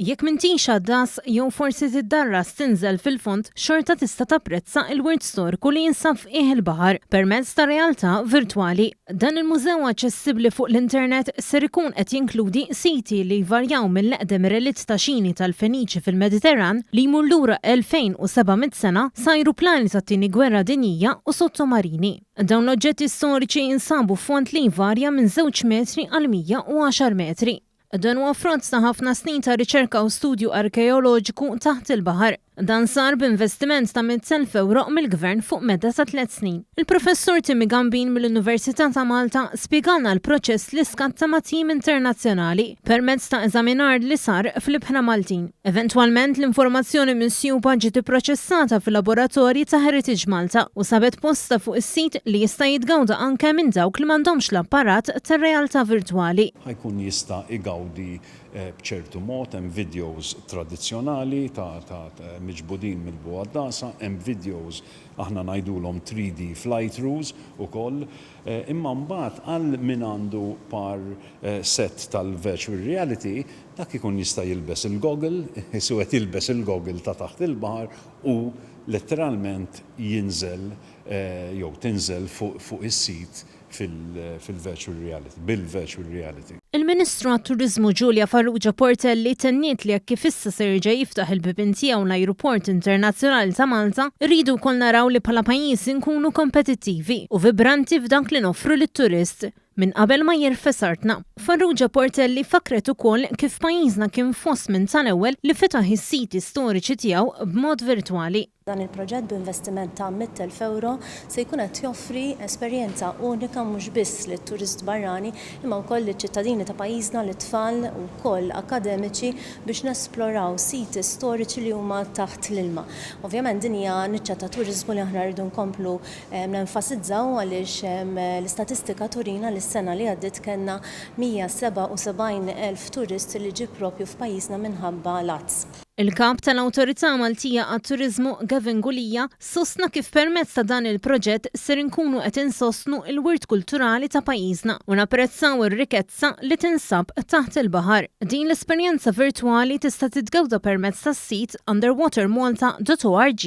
Jekk m'intix għaddas, jew forsi tiddarras tinżel fil-fond, xorta tista' tapprezza l-wirt storiku li jinsab f'qiegħ il-baħar permezz ta' realtà virtwali. Dan il-mużew aċċessibbli fuq l-internet ser ikun qed jinkludi siti li jvarjaw mill-eqdem relitt ta' xini tal-Feniċi fil-Mediterran li jmur lura 2,700 sena, sajruplani tat-Tieni Gwerra Dinjija u sottomarini. Dawn l-oġġetti storiċi jinsabu f'fond li jvarja minn żewġ metri għal 110 metri. Dan huwa frott ta' ħafna snin ta' riċerka u studju arkeoloġiku taħt il-baħar. Dan sar b'investiment ta' 100,000 ewro mill-Gvern fuq medda ta' tliet snin. Il-Professur Timmy Gambin mill-Università ta' Malta spjegalna l-proċess li skatta ma' tim internazzjonali. permezz ta' eżaminar li sar fl-ibħra Maltin. Eventwalment, l-informazzjoni minsjuba ġiet ipproċessata fil-laboratorji ta' Heritage Malta u sabet postha fuq is-sit li jista' jitgawda anke minn dawk li m'għandhomx l-apparat tar-realtà virtwali. Ħa jkun jista' jgawdi b'ċertu mod, hemm videos tradizzjonali ta' ta' miġbudin mill-bogħod dasa, hemm videos aħna ngħidulhom 3D flight ruse ukoll. Imma mbagħad għal min għandu par set tal-virtual reality, dak ikun jista' jilbes il-goggle, iħissu qed jilbes il-goggle ta' taħt il-baħar u letteralment jinżel jew tinżel fuq is-sit fil-virtual reality, bil-virtual reality. Il-Ministru għat-Turiżmu Julia Farrugia Portelli tenniet li hekk kif issa se jerġa' jiftaħ il-bibien tiegħu l-Ajruport Internazzjonali ta' Malta, irridu wkoll naraw li bħala pajjiż inkunu kompetittivi u vibranti f'dak li noffru lit-turist, minn qabel ma jirfes artna. Farrugia Portelli fakkret ukoll kif pajjiżna kien fost minn tal-ewwel li fetaħ is-siti storiċi tiegħu b'mod virtwali. Dan il-proġett b'investiment ta' mitt elf ewro se jkun qed joffri esperjenza unika mhux biss lit-turist barrani imma wkoll liċ-ċittadini ta' pajjiżna, lit-tfal u wkoll akkademiċi biex nesploraw siti storiċi li huma taħt l-ilma. Ovvjament din hija niċċa ta' turiżmu li aħna rridu nkomplu nenfasizzaw għaliex l-istatistika turina li s-sena li għaddiet kellna 177 elf turist li ġie proprju f'pajjiżna minħabba l-għats. Il-Kap tal-Awtorità Maltija għat-Turiżmu Gavin Gulia sostna kif permezz ta' dan il-proġett ser inkunu qed insostnu l-wirt kulturali ta' pajjiżna u napprezzaw ir-rikezza li tinsab taħt il-baħar. Din l-esperjenza virtwali tista' titgawda permezz tas-sit underwatermalta.org.